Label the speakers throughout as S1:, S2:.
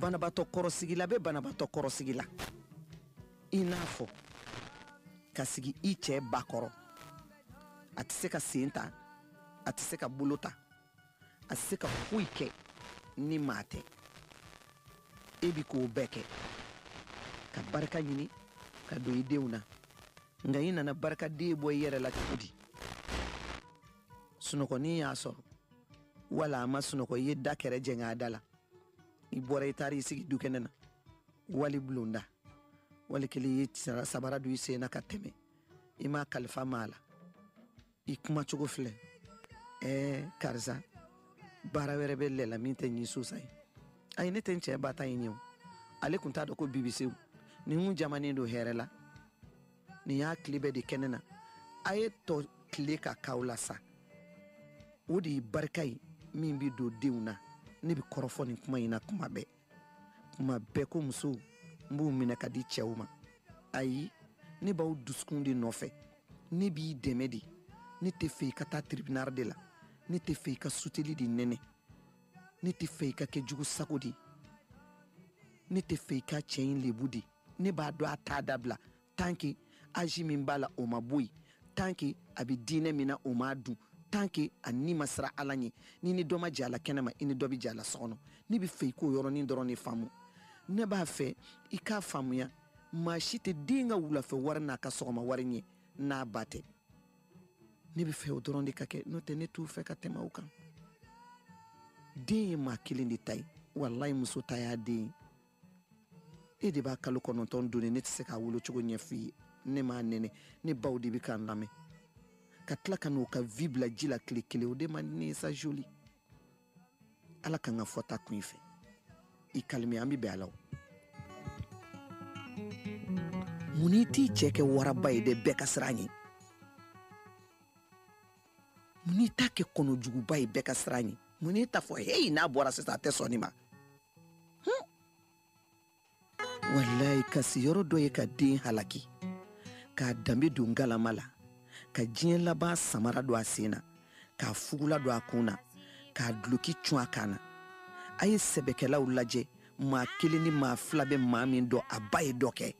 S1: banabatɔ kɔrɔsigila bɛ banabatɔ kɔrɔsigi la i n'a fɔ ka sigi i cɛ ba kɔrɔ a tɛ se k'a sen ta a tɛ se k'a bolo ta a se ka foyi kɛ ni maa tɛ e bi k'o bɛɛ kɛ ka barika ɲini ka don i denw na nka i nana barikaden bɔ i yɛrɛ la cogo di sunɔgɔnin y'a sɔrɔ wala a ma sunɔgɔ i ye da kɛrɛ jɛngɛ a da la i bɔra i taara i sigi dukɛnɛ na wali bulonda wali kelen i ye sabara don i sen na ka tɛmɛ i m'a kalifa maa la i kuma cogo filɛ ɛɛ karisa baara wɛrɛ bɛ lɛla min tɛ nin sosa ye ayi ne tɛ n cɛ ba ta ye ɲɛ o ale tun t'a dɔn ko bibisew nin kun jamanen don hɛrɛ la nin y'a tile bɛɛ de kɛnɛ na a ye tɔ tile ka kaw la sa o de ye barika ye min bɛ don denw na ne bɛ kɔrɔfɔ nin kuma in na kuma bɛɛ kuma bɛɛ ko musow n b'u minɛ ka di cɛw ma ayi ne b'aw dusukun de nɔfɛ ne b'i dɛmɛ de ne tɛ fɛ i ka taa tribunal de la ne tɛ fɛ i ka suteli de nɛnɛ ne tɛ fɛ i ka kɛ jugu sago de ne tɛ fɛ i ka cɛ in lebu de ne b'a dɔn a t'a dabila tant que aji min b'a la o ma bɔ yen tant que a bɛ diinɛ min na o m'a dun tant que a ni ma siran ala ɲɛ n'i ni dɔ ma jɛ a la kɛnɛma i ni dɔ bɛ jɛ a la so kɔnɔ ne bɛ fɛ i k'o yɔrɔnin dɔrɔn de faamu ne b'a fɛ i k'a faamuya maa si tɛ den ka wulafɛ wari n'a ka sɔgɔma wari ɲɛ n'a ba tɛ ne bɛ fɛ o dɔrɔn de ka kɛ n'o tɛ ne t'u fɛ ka tɛmɛ o kan den ye maa kelen de ta ye walayi muso ta y'a den ye e de b'a kalo kɔnɔntɔn doni ne tɛ se k'a wolo cogo ɲɛf'i ye ne m'a nɛnɛ ne baw de bɛ k'a lamɛn ka tila ka n'u ka vie bila ji la tile kelen o de man di ne ye sa joli ala kan ka fɔta kun i fɛ i kalimi an bɛ bɛn a la o mun n'i t'i cɛ kɛ waraba ye dɛ bɛɛ ka siran ye mun n'i t'a kɛ kɔnɔjuguba ye bɛɛ ka siran ye mun n'i t'a fɔ heyi n'a bɔra sisan a tɛ sɔn nin ma walayi kasi yɔrɔ dɔ ye ka den halaki k'a danbe don galama la ka diɲɛ laban samara don a sen na k'a fugula don a kun na k'a duloki cun a kan na a ye sɛbɛkɛlaw lajɛ maa kelen ni maa fila bɛ maa min dɔn a ba ye dɔ kɛ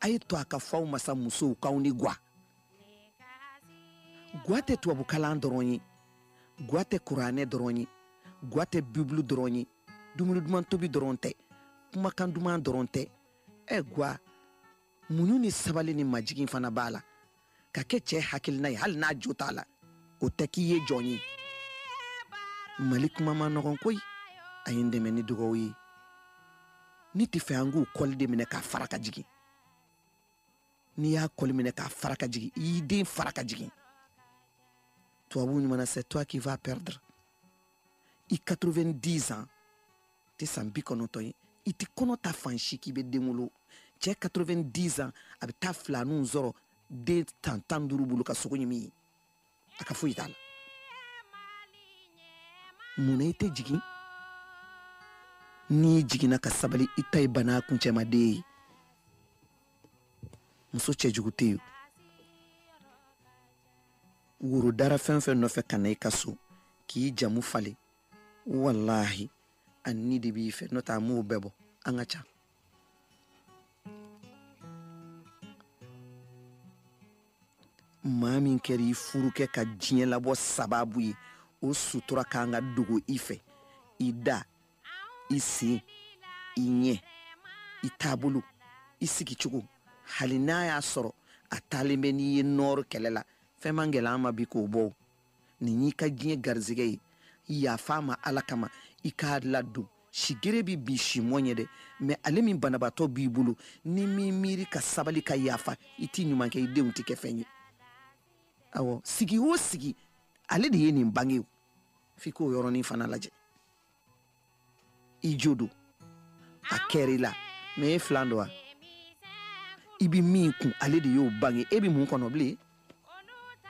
S1: a ye to a ka fɔ aw ma sa musow k'aw ni gwa Ga tɛ tubabukalan dɔrɔn ye ga tɛ kuranɛ dɔrɔn ye ga tɛ bibulu dɔrɔn ye dumuni duman tobi dɔrɔn tɛ kumakan duman dɔrɔn tɛ ɛ ga muɲu ni sabali ni majigin fana b'a la ka kɛ cɛ hakilina ye hali n'a jo t'a la o tɛ k'i ye jɔn ye mali kuma man nɔgɔn ko a ye n dɛmɛ ni dugaw ye ne tɛ fɛ an k'u kɔli de minɛ k'a fara ka jigin n'i y'a kɔli minɛ k'a fara ka jigin i y'i den fara ka jigin tubabu ɲuman c'est toi qui va perdre i 90 ans tɛ san bi kɔnɔntɔn ye i tɛ kɔnɔ ta fan si k'i bɛ den wolo cɛ 90 ans a bɛ taa filaniw sɔrɔ den tan tan duuru bolo ka sogo ɲimi ye a ka foyi t'a la mun na i tɛ jigin n'i jiginna ka sabali i ta ye bana kuncɛmaden ye muso cɛjugu tɛ yen woro dara fɛn fɛn nɔfɛ ka na i ka so k'i jamu falen walahi a ni de b'i fɛ n'o tɛ an m'o bɛɛ bɔ an ka ca maa min kɛra i furukɛ ka diɲɛ labɔ sababu ye o sutura ka kan ka dogo i fɛ i da i sen i ɲɛ i taabolo i sigicogo hali n'a y'a sɔrɔ a taalen bɛ n'i ye nɔɔrɔ kɛlɛ la fɛn man gɛlɛn an ma bi k'o bɔ nin y'i ka diɲɛ garisɛgɛ ye yafa a ma ala kama i k'a ladon sigere bɛ bi simɔ ɲɛ dɛ mɛ ale min banabaatɔ b'i bolo n'i ma miiri ka sabali ka yafa i t'i ɲuman kɛ i denw tɛ kɛ fɛn ye awɔ sigi o sigi ale de ye nin bange f'i k'o yɔrɔnin fana lajɛ i jo don a kɛra i la mɛ e filan don wa i bɛ min kun ale de y'o bange e bɛ mun kɔnɔ bilen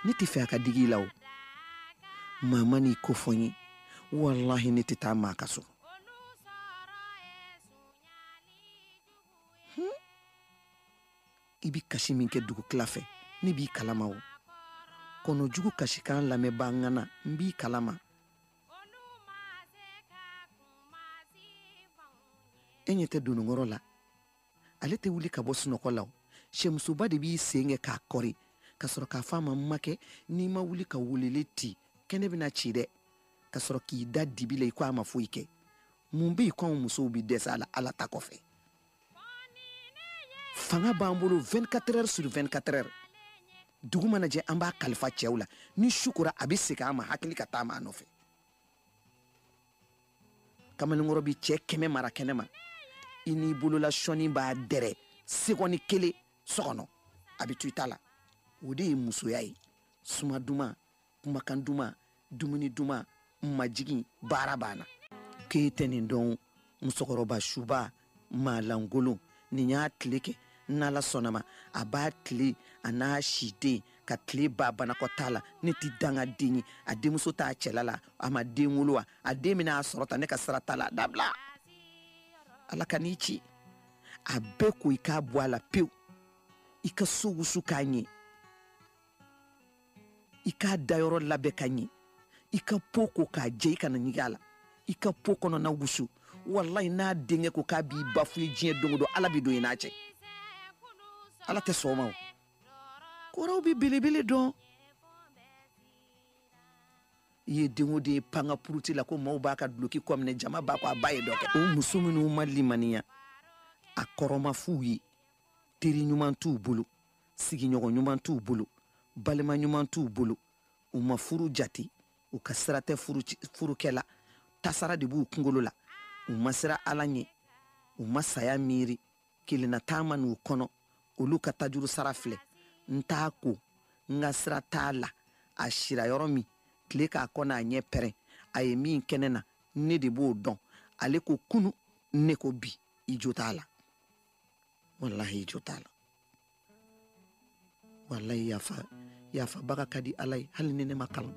S1: ne tɛ fɛ a ka digi i la o maa ma n'i ko fɔ n ye walahi ne tɛ taa maa ka so hmm? i bɛ kasi min kɛ dugutila fɛ ne b'i kalama o kɔnɔjugu kasikan lamɛnbaa ŋana n b'i kalama e ɲɛ tɛ dononkɔrɔ la ale tɛ wuli ka bɔ sunɔgɔ la sɛmusoba de b'i sen kɛ k'a kɔri ka sɔrɔ k'a fɔ a ma makɛ n'i ma wuli ka weleli ti kɛnɛ bɛna ci dɛ ka sɔrɔ k'i da dibi la i ko a ma foyi kɛ mun bɛ yen ko anw musow bɛ dɛsɛ a la ala ta kɔfɛ fanga b'an bolo 24 heures sur 24 heures dugu mana jɛ an b'a kalifa cɛw la ni su kora a bɛ segin an ma hakili ka taama a nɔfɛ kamalenkɔrɔ bɛ cɛ kɛmɛ mara kɛnɛ ma i n'i bolola sɔni b'a dɛrɛ segɔni kelen so kɔnɔ a bɛ to i ta la o de ye musoya ye suma duman kumakan duman dumuni duman majigin baara banna k'e tɛ nin dɔn musokɔrɔba subaa maalankolon nin y'a tile kɛ n'ala sɔnn'a ma a b'a tile a n'a si den ka tile ba banakɔtaa la ne tɛ dangaden ye a denmuso t'a cɛla la a ma den wolo wa a den bɛna a sɔrɔ ta ne ka sira t'a la dabila ala ka n'i ci a bɛɛ ko i k'a bɔ a la pewu i ka so wusu k'a ɲɛ i k'a dayɔrɔ labɛn ka ɲi i ka po ko k'a jɛ i kana ɲig'a la i ka po kɔnɔna wusu walayi n'a denkɛ ko k'a b'i ba fo i ye diɲɛ don don ala bɛ don i n'a cɛ ala tɛ sɔn a ma o kɔrɔw bɛ belebele dɔn i ye den o den ye pan ka puruti la ko maaw b'a ka duloki kɔ minɛ jama b'a kɔ a ba ye dɔ kɛ o muso minnu ma limaniya a kɔrɔ ma f'u ye teri ɲuman t'u bolo sigiɲɔgɔn ɲuman t'u bolo balima ɲuman t'u bolo u ma furu jate u ka sira tɛ furukɛ la tasara de b'u kunkolo la u ma siran ala ɲɛ u ma saya miiri kelennataa ma n'u kɔnɔ olu ka tajurusara filɛ n t'a ko n ka sira t'a la a sira yɔrɔ min tile k'a kɔ n'a ɲɛ pɛrɛn a ye min kɛ ne na ne de b'o dɔn ale ko kunu ne ko bi i jo t'a la walahi i jo t'a la walayi yafa yafabaga ka di ala ye hali ni ne ma kalan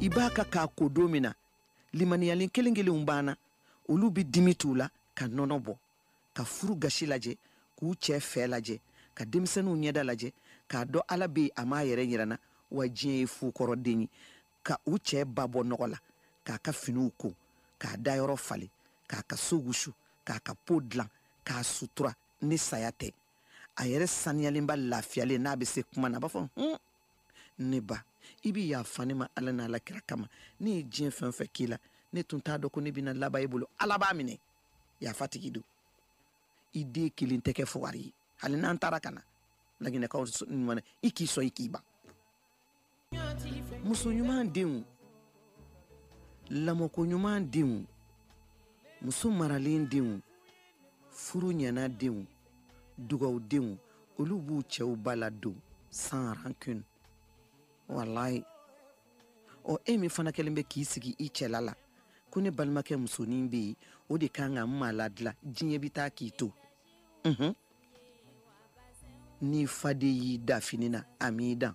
S1: i b'a ka k'a ko don min na limaniyalen kelen kelenw banna olu bɛ dimi t'u la ka nɔnɔ bɔ ka furu gasi lajɛ k'u cɛ fɛɛ lajɛ ka denmisɛnninw ɲɛda lajɛ k'a dɔn ala bɛ yen a m'a yɛrɛ yir'an na wa diɲɛ ye fu kɔrɔ de ye ka u cɛ ba bɔ nɔgɔ la k'a ka finiw ko k'a dayɔrɔ falen k'a ka so wusu k'a ka po dilan k'a sutura ni saya tɛ a yɛrɛ saniyalenba lafiyalen n'a bɛ se kuma na a b'a fɔ hun ne ba i bɛ yafa ne ma ala n'a ala kira kama ne ye diɲɛ fɛn fɛn k'i la ne tun t'a dɔn ko ne bɛna laban i bolo ala b'a minɛ yafatigi don i den kelen tɛ kɛ fugari ye hali n'an taara ka na laginɛkaw ɲuman i k'i sɔn i k'i ban muso ɲuman denw lamɔko ɲuman denw muso maralen denw furu ɲɛna denw dugaw denw olu b'u cɛw ba ladon sans rancune walayi ɔ e min fana kɛlen bɛ k'i sigi i cɛla la ko ne balimakɛ musonin bɛ yen o de kan ka n maa ladila diɲɛ bɛ taa k'i to n'i faden y'i dan fini na a m'i dan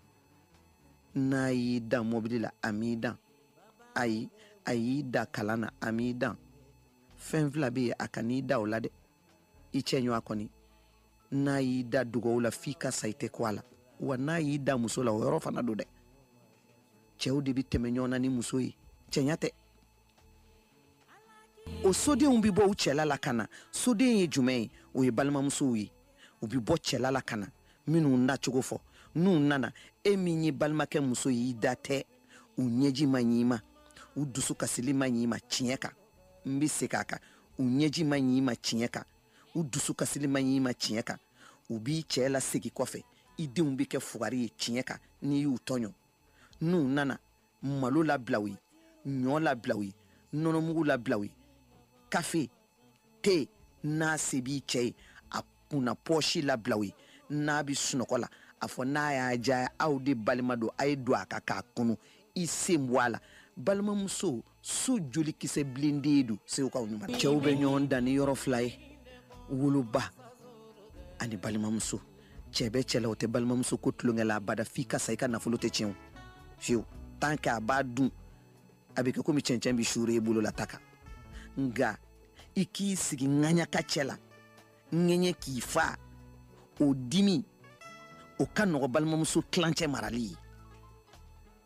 S1: n'a y'i dan mobili la a m'i dan ayi a y'i dan kalan na a m'i dan fɛn fila bɛ yen a kan'i dan o la dɛ i cɛɲɔgɔn kɔni n'a y'i dan dugaw la f'i ka sa i tɛ kun a la wa n'a y'i dan muso la o yɔrɔ fana don dɛ cɛw de bɛ tɛmɛ ɲɔgɔn na ni muso ye cɛɲa tɛ o sodenw bɛ bɔ u cɛla la ka na soden ye jumɛn ye o ye balimamusow ye u bɛ bɔ cɛla la ka na minnu nacogo fɔ n'u nana e min ye balimakɛ muso y'i da tɛ u ɲɛji man ɲi i ma u dusu kasili man ɲi i ma tiɲɛ kan n bɛ segin a kan u ɲɛji man ɲi i ma tiɲɛ kan u dusu kasili man ɲi i ma tiɲɛ kan u b'i cɛ lasegin kɔfɛ i denw bɛ kɛ fugari ye tiɲɛ kan n'i y'u tɔɲɔ n'u nana malo labilaw ye ɲɔ labilaw ye nɔnɔmugu labilaw ye kafe te n'a se b'i cɛ ye a kunna pɔsi labilaw ye n'a bi sunɔgɔ la a fɔ n'a y'a jaya aw de balima don a ye don a ka k'a kunu i sen bɔ a la balimamuso so jolikisɛ bilen de don segukaw ɲuman cɛw bɛ ɲɔgɔn dan ni yɔrɔ fila ye woloba ani balimamuso cɛ bɛ cɛ la o tɛ balimamuso ko tulonkɛ la abada f'i ka sa i ka nafolo tɛ tiɲɛ fiyewu tant que a b'a dun a bɛ kɛ komi cɛncɛn bɛ suuru i bolo la ta kan nka i k'i sigi ŋaɲaka cɛ la ŋɛɲɛ k'i fa o dimi o ka nɔgɔ balimamuso tilancɛ marali ye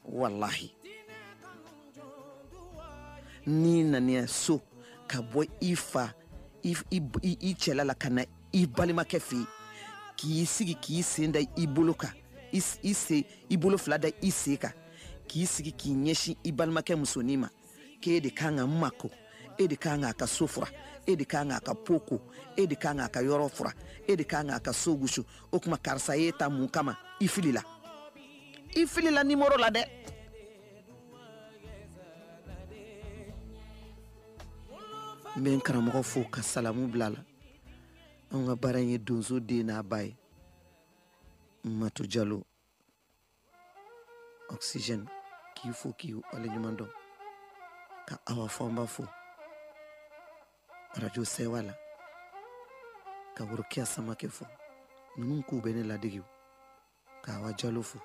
S1: walahi n'i nana i ya so ka bɔ i fa i cɛla la ka na i balimakɛ fɛ yen k'i sigi k'i sen da i bolo kan i se i bolo fila da i sen kan k'i sigi k'i ɲɛsin i balimakɛ musonin ma k'e de kan k'a mako e de kan k'a ka so fura e de kan k'a ka po ko e de kan k'a ka yɔrɔ fura e de kan k'a ka so gusu o tuma karisa y'e ta mun kama i filila i filila nimoro la dɛ n bɛ n karamɔgɔ fo ka salamu bila la anw ka baara in ye donso den n'a ba ye mato jalo oxygène k'i fo k'i waleɲuman dɔn ka awa fɔnba fo arajo sɛwa la ka worokiya samakɛ fo minnu k'u bɛ ne ladege ka awa jalo fo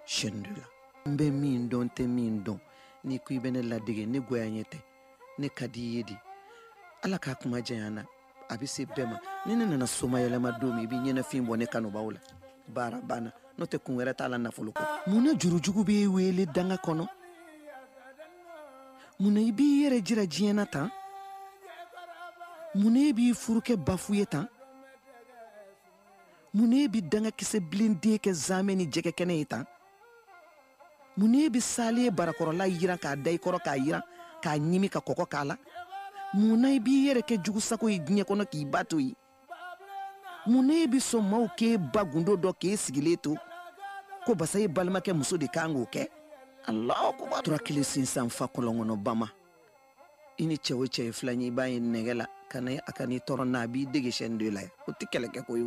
S1: chaîne deux la n bɛ min dɔn n tɛ min dɔn n'i ko i bɛ ne ladege ne goya ɲɛ tɛ ne ka di i ye di ala k'a kuma janya na a bɛ se bɛɛ ma ni ne nana somayɛlɛma don min i bɛ ɲɛnafin bɔ ne kanubaw la baara banna n'o tɛ kun wɛrɛ t'a la nafolo kɔ mun na jurujugu b'i wele danga kɔnɔ mun na i b'i yɛrɛ jira diɲɛ na tan mun na e b'i furu kɛ bafu ye tan mun na e bɛ dangakisɛ bilen de kɛ zamɛ ni jɛgɛkɛnɛ ye tan mun na e bɛ salen ye barakɔrɔla jiran k'a da i kɔrɔ k'a jiran k'a ɲimi ka kɔkɔ k'a la mun na i b'i yɛrɛ kɛ jugusago ye diɲɛ kɔnɔ k'i ba to yen mun na e bɛ sɔn maaw k'e ba gundo dɔn k'e sigilen to ko basa ye balimakɛ muso de ka kan k'o kɛ ala ko tora kelen sinsan fa kɔlɔn kɔnɔ bama i ni cɛ o cɛ ye filan ye i b'a ye nɛgɛ la ka na a kan'i tɔɔrɔ na a b'i dege sɛni de la yan o tɛ kɛlɛ kɛ ko ye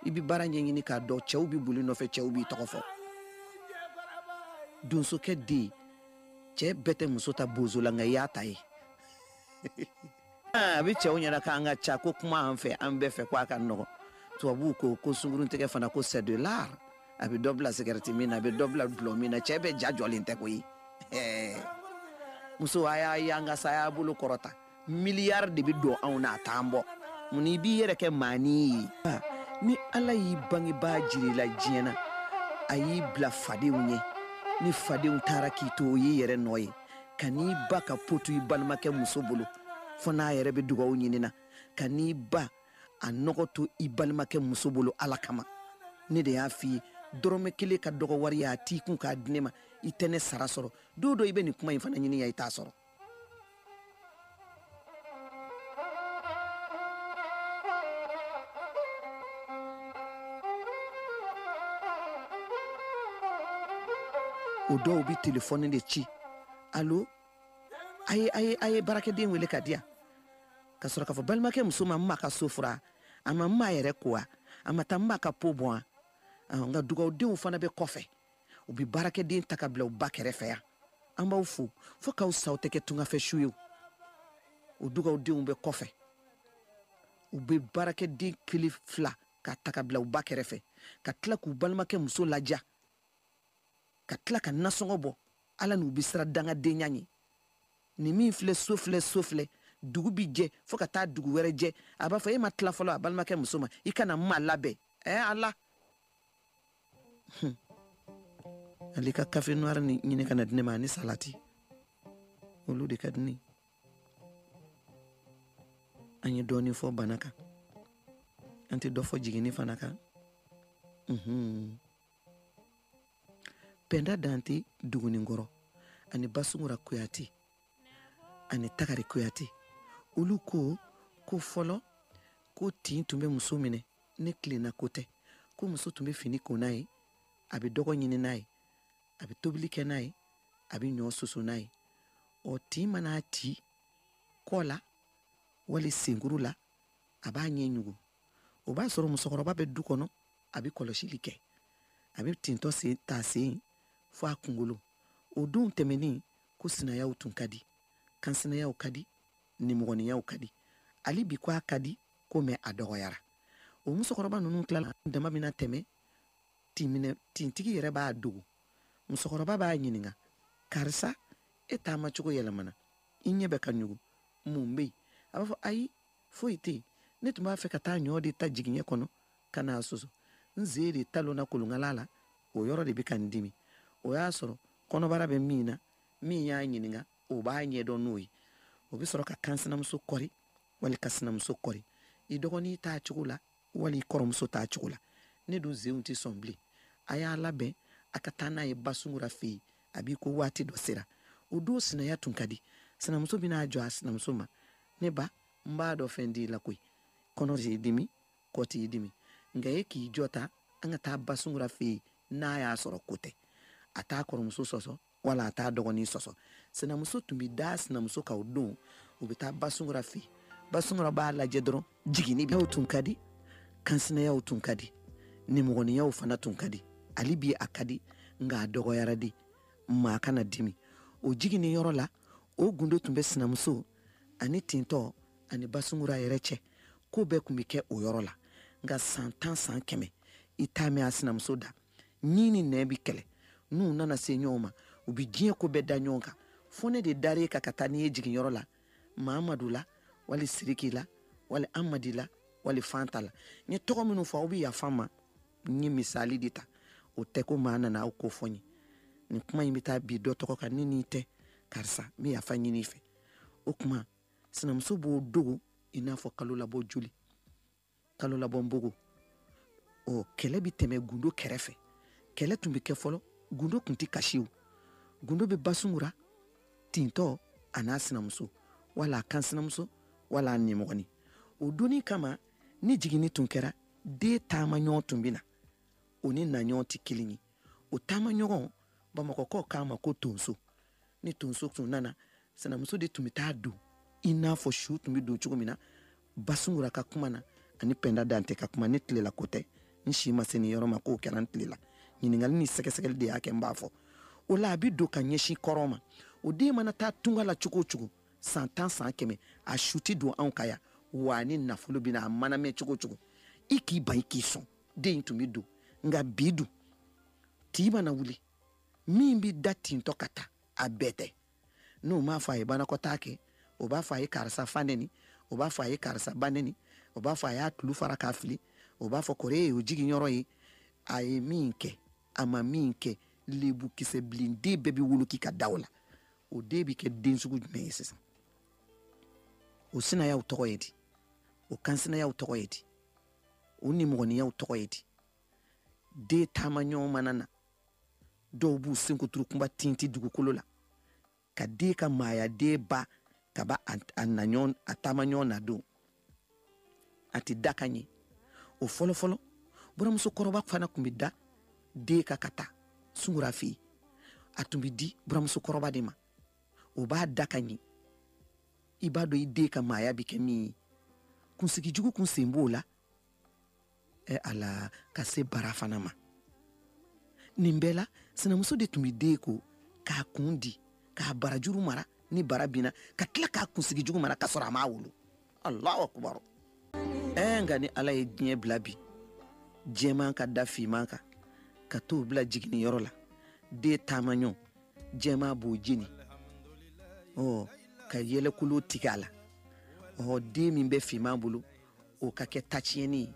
S1: i bɛ baara ɲɛɲini k'a dɔn cɛw bɛ boli i nɔfɛ cɛw b'i tɔgɔ fɔ donsokɛ den cɛ bɛɛ tɛ muso ta bozola nka i y'a ta yen A bɛ cɛw ɲɛna k'an ka ca ko kuma an fɛ an bɛɛ fɛ k' a ka nɔgɔ tubabuw ko ko sungurutigɛ fana ko c'est de l'art a bɛ dɔ bila sigarɛti min na a bɛ dɔ bila dɔlɔ min na cɛ bɛ ja jɔlen tɛ ko ye muso a y'a yan ka sa y'a bolo kɔrɔta miliyari de bɛ don anw na a taa bɔ mun i b'i yɛrɛ kɛ maa ye ni ala y'i bangebaa jiri la diɲɛ na a y'i bila fadenw ye ni fadenw taara k'i to o y'i yɛrɛ nɔ ye kan'i ba ka po to i balimakɛ muso bolo fo n'a yɛrɛ bɛ dugawu ɲini na kan'i ba a nɔgɔ to i balimakɛ muso bolo ala kama ne de y'a f'i ye dɔrɔmɛ kelen ka dɔgɔ wari y'a t'i kun k'a di ne ma i tɛ ne sara sɔrɔ don dɔ i bɛ nin kuma in fana ɲini yan i t'a sɔrɔ O dɔw bɛ telefɔni de ci alo a ye baarakɛden weele k'a di yan ka sɔrɔ k'a fɔ balimakɛ muso ma ma ka so furan a ma n ma yɛrɛ ko a ma taa n ma ka po bɔ nka dugawudenw fana bɛ kɔfɛ u bɛ baarakɛden ta ka bila u ba kɛrɛfɛ yan an b'aw fo fo k'aw saw tɛ kɛ tungafɛ su ye o dugawudenw bɛ kɔfɛ u bɛ baarakɛden kili fila ka ta ka bila u ba kɛrɛfɛ ka tila k'u balimakɛ muso laja ka tila ka nasɔngɔ bɔ ala n'u bɛ siran dangadenya ye nin min filɛ so filɛ so filɛ dugu bi jɛ fo ka taa dugu wɛrɛ jɛ a b'a fɔ e ma tila fɔlɔ a balimakɛ muso ma i kana n ma labɛn ɛɛ ala Hmm. ale ka kafe noir nin ɲini ka n'a di ne ma ani salati olu de ka di ne an ye dɔɔnin fɔ bana kan an tɛ dɔ fɔ jiginni fana kan hmm. pɛnda dante dugunikɔrɔ ani basungura kuyate ani tagari kuyate olu ko ko fɔlɔ ko tin tun bɛ muso minɛ ne tilenna ko tɛ ko muso tun bɛ fini ko n'a ye a bɛ dɔgɔ ɲini n'a ye a bɛ tobili kɛ n'a ye a bɛ ɲɔ soso n'a ye ɔ tin mana ci kɔ la wali senkuru la a b'a ɲɛ ɲugu o b'a sɔrɔ musokɔrɔba bɛ du kɔnɔ a bɛ kɔlɔsili kɛ a bɛ tintɔ sen ta sen fo a kunkolo o don tɛmɛnen ko sinayaw tun ka di kansinayaw ka di nimɔgɔniyaw ka di hali bi ko a ka di ko mɛ a dɔgɔyara o musokɔrɔba ninnu tilala dama min na tɛmɛ tinminɛ tintigi yɛrɛ b'a dogo musokɔrɔba b'a ɲininka karisa e taama cogo yɛlɛmana i ɲɛ bɛ ka ɲugu mun bɛ yen a b'a fɔ ayi foyi tɛ yen ne tun b'a fɛ ka taa ɲɔ de ta jigiɲɛ kɔnɔ ka n'a soso n sen de talonna kolonkala la o yɔrɔ de bɛ ka n dimi o y'a sɔrɔ kɔnɔbara bɛ min na min y'a ɲininka o b'a ɲɛdɔn n'o ye o bɛ sɔrɔ ka kansinamuso kɔri wali ka sinamuso kɔri i dɔgɔnin t'a cogo la wali i kɔrɔmuso t'a cogo la ne dun senw tɛ sɔn bilen a y'a labɛn a ka taa n'a ye basungura fɛ yen a b'i ko waati dɔ sera o don sinaya tun ka di sinamuso bɛna a jɔ a sinamuso ma ne ba n b'a dɔn fɛn t'i la koyi kɔnɔ t'i dimi kɔ t'i dimi nka e k'i jɔ ta an ka taa basungura fɛ yen n'a y'a sɔrɔ ko tɛ a t'a kɔrɔmuso sɔsɔ wala a t'a dɔgɔnin sɔsɔ sinamuso tun bɛ da sinamuso kan o don u bɛ taa basungura fɛ basungura b'a lajɛ dɔrɔn jiginni bɛ tun ka di kansinayaw tun ka di nimɔgɔniyaw fana tun ka di hali bi a ka di nka a dɔgɔyara dɛ maa kana dimi o jiginni yɔrɔ la o gundo tun bɛ sinamuso ani tintɔ ani basungura yɛrɛ cɛ ko bɛɛ tun bɛ kɛ o yɔrɔ la nka san tan san kɛmɛ i t'a mɛn a sinamuso da ɲin ni nɛn bi kɛlɛ n'u nana se ɲɔgɔn ma u bi diɲɛ ko bɛɛ da ɲɔgɔn kan fɔ ne de dara i kan ka taa n'i ye jiginyɔrɔ la mahamadu la wali siriki la wali amadi la wali fanta la n ye tɔgɔ minnu fɔ aw bɛ yafa n ma n ye misali de ta o tɛ ko maa nana aw ko fɔ n ye nin kuma in bɛ taa bin dɔ tɔgɔ kan ne n'i tɛ karisa n bɛ yafa ɲini i fɛ o tuma sinamuso b'o dogo i n'a fɔ kalolabɔ joli kalo labɔ npogo ɔ kɛlɛ bɛ tɛmɛ gundo kɛrɛfɛ kɛlɛ tun bɛ kɛ fɔlɔ gundo tun tɛ kasiw gundo bɛ basungura tintɔ a n'a sinamuso wala a kansinamuso wala a nimɔgɔni o donni kama ni jiginni tun kɛra den taamaɲɔgɔn tun bɛ na o ni naɲɔgɔn tɛ kelen ye o taamaɲɔgɔn bamakɔkaw k'a ma ko tonso ni tonso tun nana sinamuso de tun bɛ taa don i n'a fɔ su tun bɛ don cogo min na basungura ka kuma na ani pɛnda dante ka kuma ne tile la ko tɛ n si ma se nin yɔrɔ ma k'o kɛra n tile la ɲininkali ni sɛgɛsɛgɛli de y'a kɛ n b'a fɔ o la a bɛ don ka ɲɛsin kɔrɔn ma o den mana taa tunga la cogo o cogo san tan san kɛmɛ a su tɛ don anw ka yan wa a ni nafolo bɛ na a mana mɛn cogo o cogo i k'i ban i k'i sɔn den in tun bɛ don nka bi dun tin mana wuli min bɛ da tintɔ ka taa a bɛɛ tɛ n'o m'a fɔ a ye banakɔtaa kɛ o b'a fɔ a ye karisa fa nɛni o b'a fɔ a ye karisa ba nɛni o b'a fɔ a y'a tulo fara k'a fili o b'a fɔ kɔrɔ ye o jigin yɔrɔ ye a ye min kɛ a ma min kɛ lebu kisɛ bilen den bɛɛ bɛ woloki ka da o la o den bɛ kɛ den sugu jumɛn ye sisan o sinayaw tɔgɔ ye di o kansinayaw tɔgɔ ye di o nimɔgɔniyaw tɔgɔ ye di den taamaɲɔgɔn mana na dɔw b'u senkuturu kunba tinti dugukolo la ka den ka maaya den ba ka bɔ a naɲɔgɔn a taamaɲɔgɔn na don a tɛ da ka ɲɛ o fɔlɔfɔlɔ buramuso kɔrɔba fana tun bɛ da den kan ka taa sungura fɛ yen a tun bɛ di buramuso kɔrɔba de ma o b'a da ka ɲɛ i b'a dɔn i den ka maaya bɛ kɛ min ye kunsigi jugu kun sen b'o la ɛ ala ka se bara fana ma nin bɛɛ la sinamuso de tun bɛ den ko k'a kun di k'a barajuru mara ni bara binna ka tila k'a kunsigi jugu mara ka sɔrɔ a m'a wolo alahu akubaru ɛɛ nka ni ala ye diɲɛ bila bi jɛman ka da finman kan ka t'o bila jiginniyɔrɔ la den taamaɲɔ jɛman b'o jeni ɔ ka yɛlɛkolo tigɛ a la ɔ den min bɛ finman bolo o ka kɛ taciyɛni ye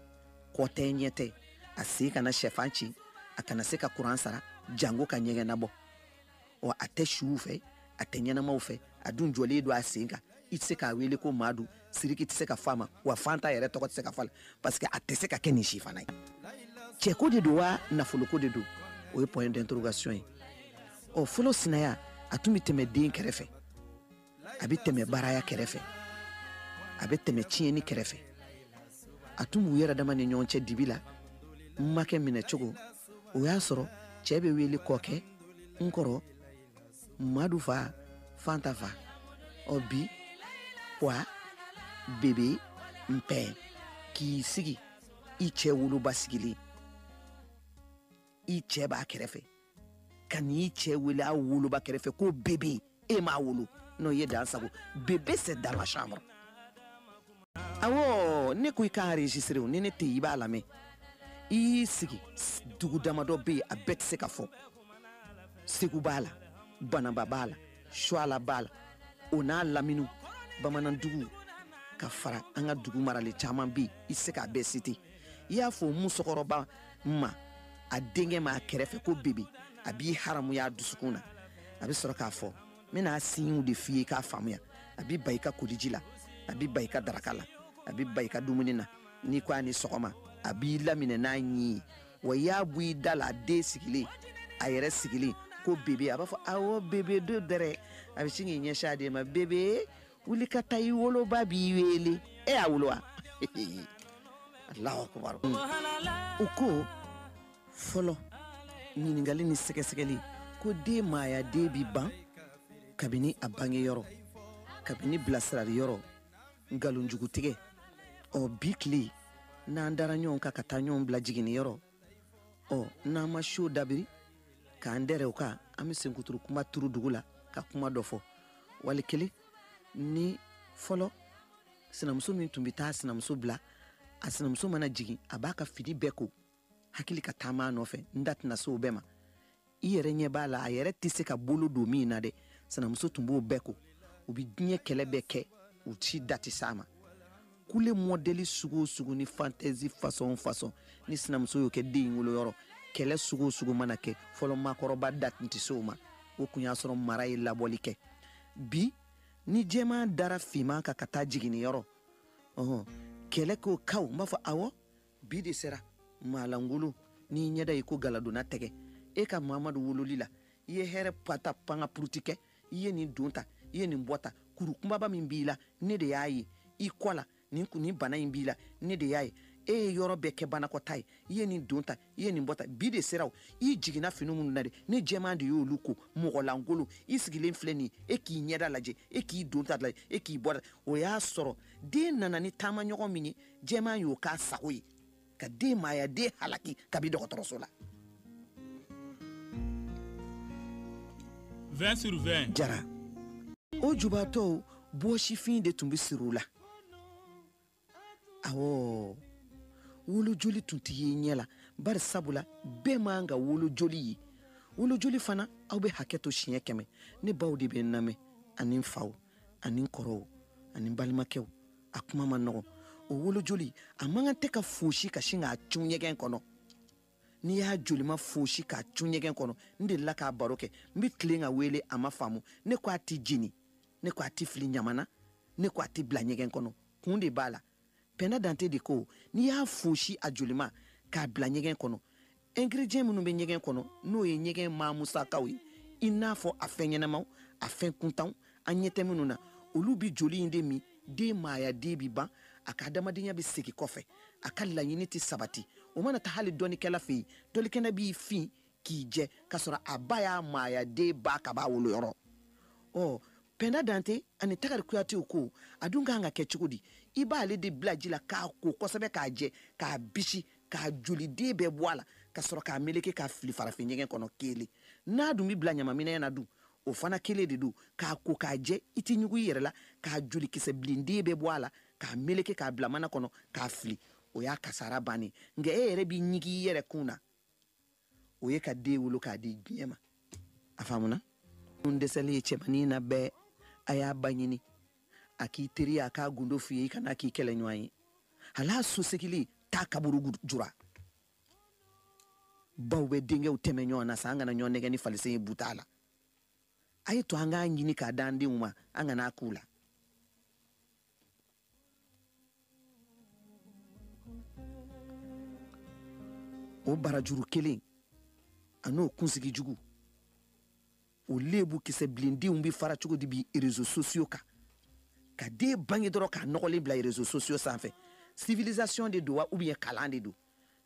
S1: kɔ tɛ ɲɛ tɛ a sen kana sɛfan ci a kana se ka kuran sara jango ka ɲɛgɛn nabɔ ɔ a tɛ suw fɛ a tɛ ɲɛnamaw fɛ a dun jɔlen don a sen kan i tɛ se k'a wele ko maa don siriki tɛ se ka f'a ma wa fanta yɛrɛ tɔgɔ tɛ se ka fɔ parce que a tɛ se ka kɛ nin si fana ye cɛko de don wa nafoloko de don o ye point d'interrogation ye ɔ fɔlɔ sinaya a tun bɛ tɛmɛ den kɛrɛfɛ a bɛ tɛmɛ baaraya kɛrɛfɛ a bɛ tɛmɛ tiɲɛni kɛrɛfɛ a tun b'u yɛrɛ dama ni ɲɔgɔn cɛ dibi la n makɛ minɛ cogo o y'a sɔrɔ cɛ bɛ wele kɔkɛ n kɔrɔ madu fa fanta fa ɔ bi pwa bebe mpɛ k'i sigi i cɛ woloba sigilen i cɛ b'a kɛrɛfɛ ka n'i cɛ wele a woloba kɛrɛfɛ ko bebe e m'a wolo non o ye dan sagon bebe c'est dans la chambre awɔ ne ko i k'a enregistré o ni ne tɛ i b'a lamɛn i y'i sigi dugu damadɔ bɛ yen a bɛɛ tɛ se ka fɔ segu b'a la banamba b'a la suala b'a la o n'a lamini bamanandugu ka fara an ka dugu maralen caman bɛ yen i tɛ se k'a bɛɛ cité i y'a fɔ musokɔrɔba ma a denkɛ ma a kɛrɛfɛ ko bebe a b'i haramuya a dusukun na a bɛ sɔrɔ k'a fɔ n bɛna siɲiw de f'i ye k'a faamuya a bɛ ban i ka koliji la a bɛ ban i ka daraka la a bɛ ban i ka dumuni na n'i ko a ni sɔgɔma a b'i laminɛ n'a ɲi ye wa i y'a bɔ i da la a den sigilen a yɛrɛ sigilen ko bebe a b'a fɔ awɔ bebe don dɛrɛ a bɛ sin k'i ɲɛsin a den ma bebe wuli ka taa i woloba b'i wele e y'a wolo wa alahu akubaru u ko fɔlɔ ɲininkali ni sɛgɛsɛgɛli ko den maaya de bi ban kabini a bange yɔrɔ kabini bilasirali yɔrɔ nkalonjugutigɛ ɔ bi tile n'an dara ɲɔgɔn kan ka taa ɲɔgɔn bila jiginni yɔrɔ ɔ n'an ma siw dabiri k'an dɛrɛ o kan an bɛ senkuturu kuma turu dugu la ka kuma dɔ fɔ wali kelen ni fɔlɔ sinamuso min tun bɛ taa sinamuso bila a sinamuso mana jigin a b'a ka fini bɛɛ ko hakili ka taama a nɔfɛ n da tɛna se o bɛɛ ma i yɛrɛ ɲɛ b'a la a yɛrɛ tɛ se ka bolo don min na dɛ sinamuso tun b'o bɛɛ ko u bɛ diɲɛ kɛlɛ bɛɛ kɛ u si da tɛ s'a ma kule mɔdɛli sugu o sugu ni fantɛzi fasɔn fasɔn ni sinamuso y'o kɛ den in woloyɔrɔ kɛlɛ sugu o sugu mana kɛ fɔlɔ maakɔrɔba da tun tɛ se o ma o kun y'a sɔrɔ mara ye labɔli kɛ bi ni jɛman dara finman kan ka taa jiginniyɔrɔ ɔhɔn kɛlɛ k'o kaw n b'a fɔ awɔ bi de sera maalankolon n'i ɲɛda i ko galadonna tɛgɛ e ka mamadu wololi la i ye hɛrɛ pata panga puruti kɛ i ye nin don ta i ye nin bɔ ta kuru kunbaba min b'i la ne de y'a ye i kɔ la nin nin bana in b'i la ne de y'a ye e ye yɔrɔ bɛɛ kɛ banakɔta ye i ye nin don ta i ye nin bɔ ta bi de sera o i jiginna fini minnu na de ne jɛman de y'olu ko mɔgɔlankolon i sigilen filɛ nin e k'i ɲɛda lajɛ e k'i don ta lajɛ e k'i bɔ ta o y'a sɔrɔ den nana ni taamaɲɔgɔn min ye jɛman y'o k'a sago ye ka den maaya den halaki kabi dɔgɔtɔrɔso la 20 sur 20 jara o jubatɔw bɔsifin de tun bɛ siri u la awɔ wolojoli tun tɛ ye ɲɛ la bari sabula bɛɛ man ka wolojoli ye wolojoli fana aw bɛ hakɛ to siɲɛ kɛmɛ ne baw de bɛ n lamɛn ani n faw ani n kɔrɔw ani n balimakɛw a kuma man nɔgɔn o wolojoli a man kan tɛ ka fosi ka sin k'a cun ɲɛgɛn kɔnɔ n'i y'a jolima fosi k'a cun ɲɛgɛn kɔnɔ n delila k'a baro kɛ n bɛ tilen ka wele a ma faamu ne ko a tɛ jeni ne ko a tɛ fili ɲaman na ne ko a tɛ bila ɲɛgɛn kɔnɔ kun de b'a la pɛnda dante de ko n'i y'a fosi a jolima k'a bila ɲɛgɛn kɔnɔ ingrédients minnu bɛ ɲɛgɛn kɔnɔ n'o ye ɲɛgɛn maa musakaw ye i n'a fɔ a fɛn ɲɛnamaw a fɛn kuntanw an ɲɛ tɛ minnu na olu bi joli in de min den maaya den bi ban a ka adamadenya bɛ segin kɔfɛ a ka laɲini tɛ sabati o mana ta hali dɔnnikɛla fɛ yen dɔnnikɛla b'i fin k'i jɛ k'a sɔrɔ a ba y'a maaya den ban kab'a woloyɔrɔ ɔ pɛnda dante ani tagari kuyatew ko a dun kan ka kɛ cogo di i b'ale de bila ji la k'a ko kosɛbɛ k'a jɛ k'a bisi k'a joliden bɛɛ bɔ a la ka sɔrɔ k'a meleke k'a fili farafin ɲɛgɛn kɔnɔ kelen n'a dun bɛ bila ɲamanminɛn na dun o fana kelen de don k'a ko k'a jɛ i tɛ ɲugun i yɛrɛ la k'a jolikisɛ bilenden bɛɛ bɔ a la k'a meleke k'a bila mana kɔnɔ k'a fili o y'a kasara bannen nka e yɛrɛ b'i ɲigi i yɛrɛ kun na o ye ka den wolo k'a di diɲɛ ma a faamuna n dɛsɛlen ye cɛmannin na bɛɛ a y'a ba ɲini a k'i teriya k'a gundo f'i ye i kana k'i kɛlɛɲɔgɔn ye hal'a sosegili taa kaburu jura baw bɛ denkɛw tɛmɛ ɲɔgɔn na sa an kana ɲɔgɔn nɛgɛn ni falisen ye buta la a ye to an k'a ɲini k'a d'an denw ma an kana a k'u la o barajuru kelen an'o kunsigi jugu o lebu kisɛ bilendenw bɛ fara cogo di bi réseaux sociaux kan ka den bange dɔrɔn k'a nɔgɔlen bila réseaux sociaux sanfɛ civilisation de don wa ou bien kalan de don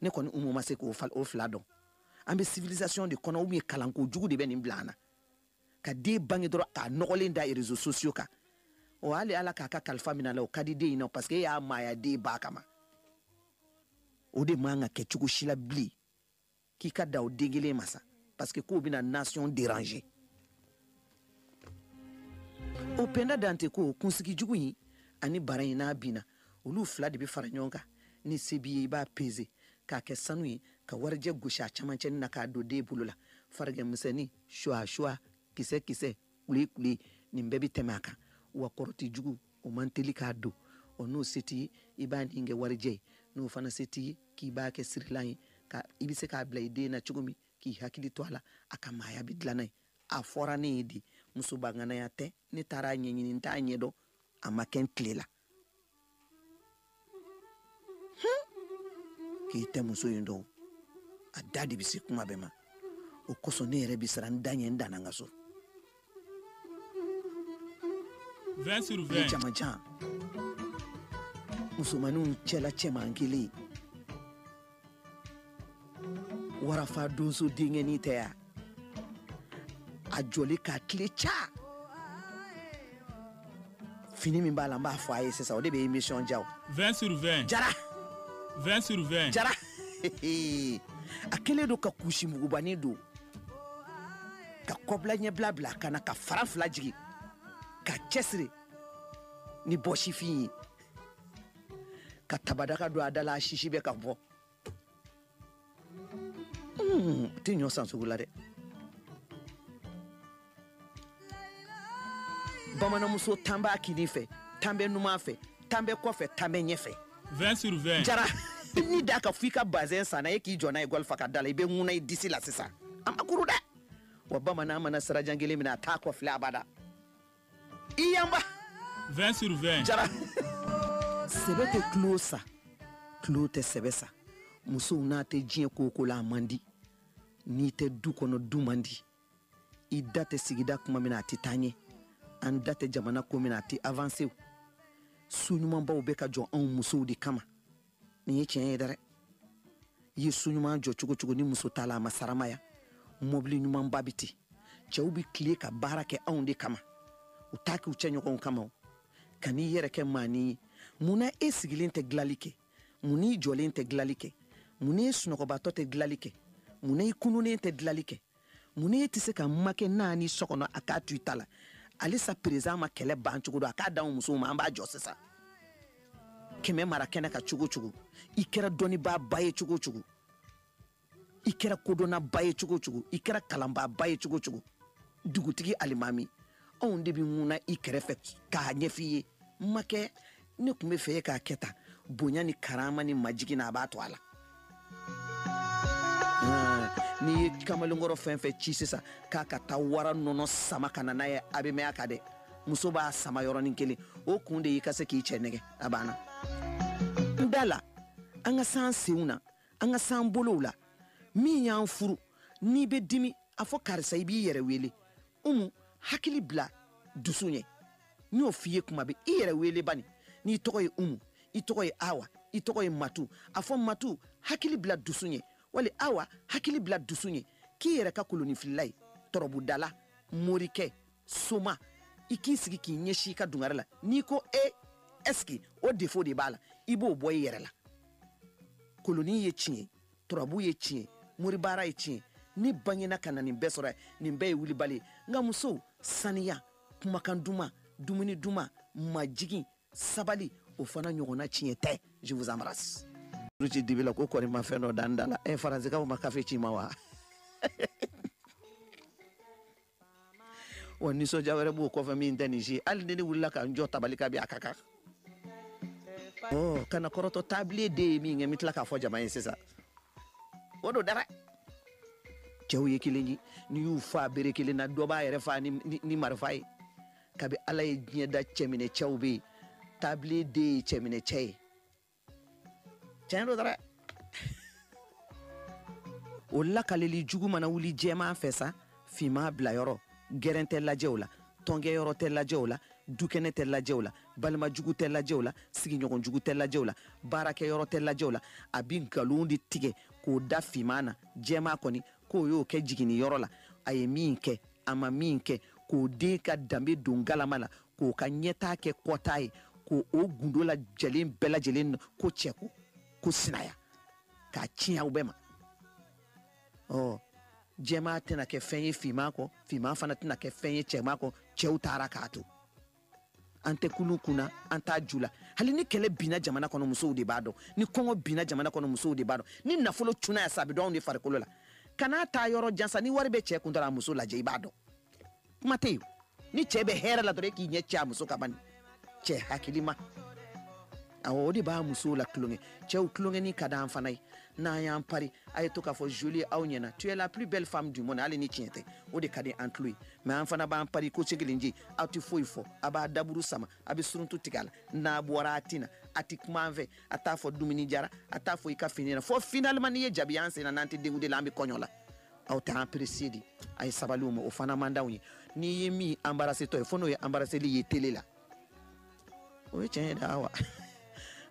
S1: ne kɔni umu ma se k'o fila dɔn an bɛ civilisation de kɔnɔ ou bien kalan kojugu de bɛ nin bila an na ka den bange dɔrɔn k'a nɔgɔlen da réseaux sociaux kan o hali ala k'a ka kalifa min'a la o ka di den in na parce que e y'a maaya den ban kaban o de man ka kɛ cogo si la bilen k'i ka da o den kelen ma sa parce que k'o bɛna nation déranger o pɛnda dante ko kunsigi jugu in ani bara in n'a binna olu fila de bɛ fara ɲɔgɔn kan ni se b'i ye i b'a peze k'a kɛ sanu ye ka warijɛ gosi a camancɛni na k'a don den bolo la farigan misɛnnin suwa-suwa kisɛ-kisɛ kule-kule nin bɛɛ bɛ tɛmɛ a kan wa kɔrɔti jugu o man teli k'a don ɔ n'o se t'i ye i b'a nin kɛ warijɛ ye n'o fana se t'i ye k'i b'a kɛ sirilan ye ka i bɛ se k'a bila i den na cogo min k'i hakili to a la a ka maaya bɛ dilan a ye a fɔra ne ye de musobaŋanaya tɛ ne taara a ɲɛɲini n t'a ɲɛdɔn a ma kɛ n tile la k'i tɛ muso in dɔn a da de bɛ se kuma bɛɛ ma o kosɔn ne yɛrɛ bɛ siran n da ɲɛ n danna n ka so. 20 sur 20. jama jan musomaninw cɛla cɛman kelen warafa donso denkɛnin tɛ yan a jɔli k'a tile ca fini min b'a la n b'a fɔ a ye sisan o de bɛ émission diya o 20 sur 20 jara 20 sur 20 jara a kɛlen don ka kusi mugubani don ka kɔbila ɲɛbila bila kan na ka fara fila jigin ka cɛsiri ni bɔsifin ye ka tabadaka don a da la a sisi bɛ ka bɔ hmm, tɛ ɲɔ san sugu la dɛ bamananmuso tan b'a kinin fɛ tan bɛ numan fɛ tan bɛ kɔfɛ tan bɛ ɲɛfɛ 20 sur 20 jara ni da ka f'i ka bazɛn sanna e k'i jɔ n'a ye gɔli fa ka da la i bɛ ŋuna i disi la sisan a ma kuru dɛ wa bamanan mana sira jan kelen minɛ a t'a kɔfilɛ abada i yanba 20 sur 20 jara sɛbɛ tɛ tulon sa tulon tɛ sɛbɛ sa musow n'a tɛ diɲɛ ko o ko la a man di n'i tɛ du kɔnɔ du man di i da tɛ sigida kuma min na a tɛ taa ɲɛ an da tɛ jamana ko min na a tɛ avanse so ɲumanbaw bɛ ka jɔ anw musow de kama nin ye tiɲɛ ye dɛrɛ i ye so ɲuman jɔ cogo cogo ni muso t'a la a ma saramaya mɔbili ɲumanba bɛ ten cɛw bɛ tile ka baara kɛ anw de kama u t'a kɛ u cɛ ɲɔgɔnw kama o kan'i yɛrɛ kɛ maanin ye mun na e sigilen tɛ dilali kɛ mun n'i jɔlen tɛ dilali kɛ mun n'i sunɔgɔbatɔ tɛ dilali kɛ mun na i kununnen tɛ dilali kɛ mun n'e tɛ se ka makɛ naani so kɔnɔ a k'a to i ta la halisa perezidan ma kɛlɛ ban cogo dɔn a k'a d'anw musow ma an b'a jɔ sisan kɛmɛ mara kɛnɛ ka cogo cogo i kɛra dɔnnibaa ba ye cogo cogo i kɛra kodɔnnaba ye cogo cogo i kɛra kalanbaa ba ye cogo cogo dugutigi alimami anw de bɛ ŋuna i kɛrɛfɛ k'a ɲɛf'i ye n makɛ ne tun bɛ fɛ e k'a kɛ tan bonya ni karama ni majigin na a b'a to a la n'i ye kamalenkɔrɔ fɛn fɛn ci sisan k'a ka taa wara nɔnɔ sama ka na n'a ye a bɛ mɛn a kan dɛ muso b'a sama yɔrɔnin kelen o kun de y'i ka se k'i cɛ nɛgɛn a banna n da la an ka san senw na an ka san bolow la min y'an furu n'i bɛ dimi a fɔ karisa i b'i yɛrɛ wele umu hakili bila dusu ɲɛ n y'o f'i ye kuma bɛɛ i yɛrɛ wele bani n'i tɔgɔ ye umu i tɔgɔ ye awa i tɔgɔ ye matu a fɔ matu hakili bila dusu ɲɛ wali awa hakili bila dusu ɲɛ k'i yɛrɛ ka kolonifilila ye turabudala morikɛ soma i k'i sigi k'i ɲɛsi i ka dungare la n'i ko e est-ce que o défaut de b'a la i b'o bɔ i yɛrɛ la koloni ye tiɲɛ ye turabu ye tiɲɛ ye moribaara ye tiɲɛ ye ne bangena ka na nin bɛɛ sɔrɔ nin bɛɛ ye wulibali ye nka musow saniya kumakan duman dumuni duman majigin sabali o fana ɲɔgɔnna tiɲɛ tɛ je vous embrasse ci dibi la ko kɔni ma fɛn dɔ dan da la ɛ eh, faransikanw ma kafe ci ma wa wa nisɔndiya wɛrɛ b'o kɔfɛ min tɛ nin si hali ni ne wulila ka n jɔ tabali kan bi a ka kan ɔ kana kɔrɔtɔ tabile de ye min kɛ n bɛ tila k'a fɔ jama ye sisan o don dara cɛw ye kelen ye n'i y'u faa bere kelen na dɔ b'a yɛrɛ faa ni, ni, ni marifa ye kabi ala ye diɲɛ da cɛminɛ cɛw bɛ yen tabile de ye cɛminɛ cɛ ye tiɲɛ don dɛrɛ o lakaleli jugu mana wuli jɛman fɛ sa finma bila yɔrɔ gɛrɛn tɛ lajɛw la tɔnkɛ yɔrɔ tɛ lajɛw la dukɛnɛ tɛ lajɛw la balima jugu tɛ lajɛw la sigiɲɔgɔn jugu tɛ lajɛw la baarakɛ yɔrɔ tɛ lajɛw la a bi nkalon de tigɛ k'o da finma na jɛma kɔni ko o y'o kɛ jiginni yɔrɔ la a ye min kɛ a ma min kɛ k'o den ka danbe don galama la k'o ka ɲɛtaa kɛ kɔtaa ye ko o gundo lajɛlen bɛɛ lajɛlen ko cɛko ko sinaya k'a tiɲɛ aw bɛɛ ma ɔ jɛma tɛna kɛ fɛn ye finman kɔ finman fana tɛna kɛ fɛn ye jɛma kɔ cɛw taara k'a to an tɛ kulu kunna an t'a ju la hali ni kɛlɛ binna jamana kɔnɔ musow de b'a dɔn ni kɔngɔ binna jamana kɔnɔ musow de b'a dɔn ni nafolo cunna yan sa a bɛ dɔn anw de farikolo la kana taa yɔrɔ jan sa ni wari bɛ cɛɛ kun dɔrɔn a muso lajɛ i b'a dɔn kuma tɛ yen ni cɛɛ bɛ hɛrɛ la dɔrɔn e k'i ɲɛ cɛ a muso kan bani cɛɛ hakilima awɔ o de b'a musow la tulonkɛ cɛw tulonkɛni ka d'an fana ye n'an y'an pari a ye to k'a fɔ jolie aw ɲɛna tu es la plus belle femme du monde hali ni tiɲɛ tɛ o de ka di an tulo ye mɛ an fana b'an pari ko cegelen je aw tɛ foyi fɔ a b'a daburu sama a bɛ suruntu tigɛ a la n'a bɔra a tina a tɛ kuma an fɛ a t'a fɔ dumuni diyara a t'a fɔ i ka fini na fo finalement n'i ye jabi an senna n'an tɛ denkundi la an bɛ kɔɲɔ la aw tɛ an apprécier dɛ a ye sabali o ma o fana man d'anw ye n'i ye min anbarasetɔ ye fo n'o ye anbaraseli ye tele la o ye tiɲɛ ye dɛ wa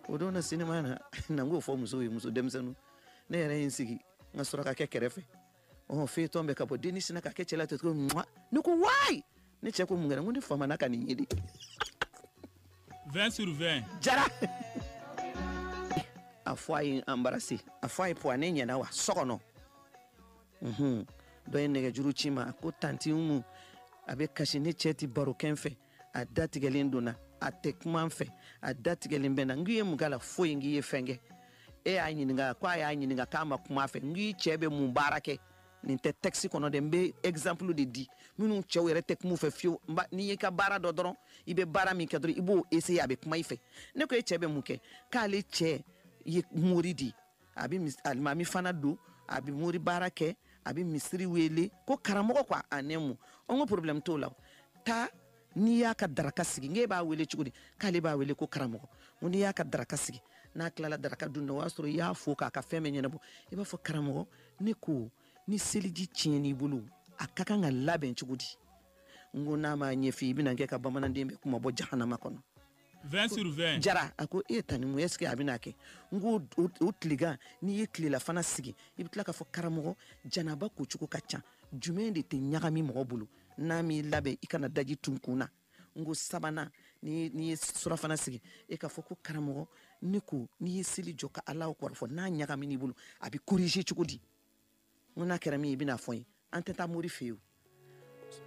S1: o don na sinima na na n k'o fɔ musow ye muso denmisɛnninw ne yɛrɛ ye n sigi n ka surakakɛ kɛrɛfɛ ɔn feyetɔn bɛ ka bɔ dennin sinna k'a kɛ cɛ la ten cogo mwa ne ko wayi ne cɛ ko mun kɛra n ko ne famana ka nin ye dɛ 20 sur 20 jara a fɔ a ye embrasser a fɔ a ye poids ne ɲɛ na wa so kɔnɔ unhun dɔ ye nɛgɛjuru ci n ma a ko tanti umu a bɛ kasi ne cɛ ti baro kɛ n fɛ a datigɛlen don n na a tɛ kuma n fɛ a datigɛlen bɛ n na n k'i ye mun k'a la foyi n k'i ye fɛn kɛ e y'a ɲininka ko a y'a ɲininka k'a ma kuma a fɛ n k'i cɛ bɛ mun baara kɛ nin tɛ tɛkisi kɔnɔ dɛ n bɛ ɛgizanpulu de di minnu cɛw yɛrɛ tɛ kuma u fɛ fiyewu n'i y'i ka baara dɔn dɔrɔn i bɛ baara min kɛ dɔrɔn i b'o eseye a bɛ kuma i fɛ ne ko e cɛ bɛ mun kɛ k'ale cɛ ye mori di a bɛ alimami fana don a bɛ mori baara kɛ a bɛ misiri wele ko karamɔgɔ ko a nɛmu an ko problème t'o la taa n'i y'a ka daraka sigi n k'e b'a wele cogo di k'ale b'a wele ko karamɔgɔ ko n'i y'a ka daraka sigi n'a tilala daraka dun na o y'a sɔrɔ i y'a fo k'a ka fɛn bɛɛ ɲɛnabɔ i b'a fɔ karamɔgɔ ne ko ni seliji tiɲɛn'i bolo a ka kan ka labɛn cogo di n ko n'a m'a ɲɛf'i ye bɛna kɛ ka hadamaden bɛɛ kunmabɔ jahanama kɔnɔ 20 sur 20 jara a ko e tanti umu est-ce que a bɛna kɛ n ko o tilegan n'i ye tilelafana sigi i bɛ tila k'a fɔ karamɔgɔ janaba ko cogo ka ca jumɛn de tɛ ɲagami mɔgɔ bolo n'a m'i labɛn i ka na daji tu n kun na n ko sabanan n'i ye surafana sigi e k'a fɔ ko karamɔgɔ ne ko n'i ye seli jɔ ka ala kɔrɔfɔ n'a ɲagamin'i bolo a bɛ corriger cogo di n ko n'a kɛra min ye i bɛn'a fɔ n ye an tɛ taa mori fɛ yen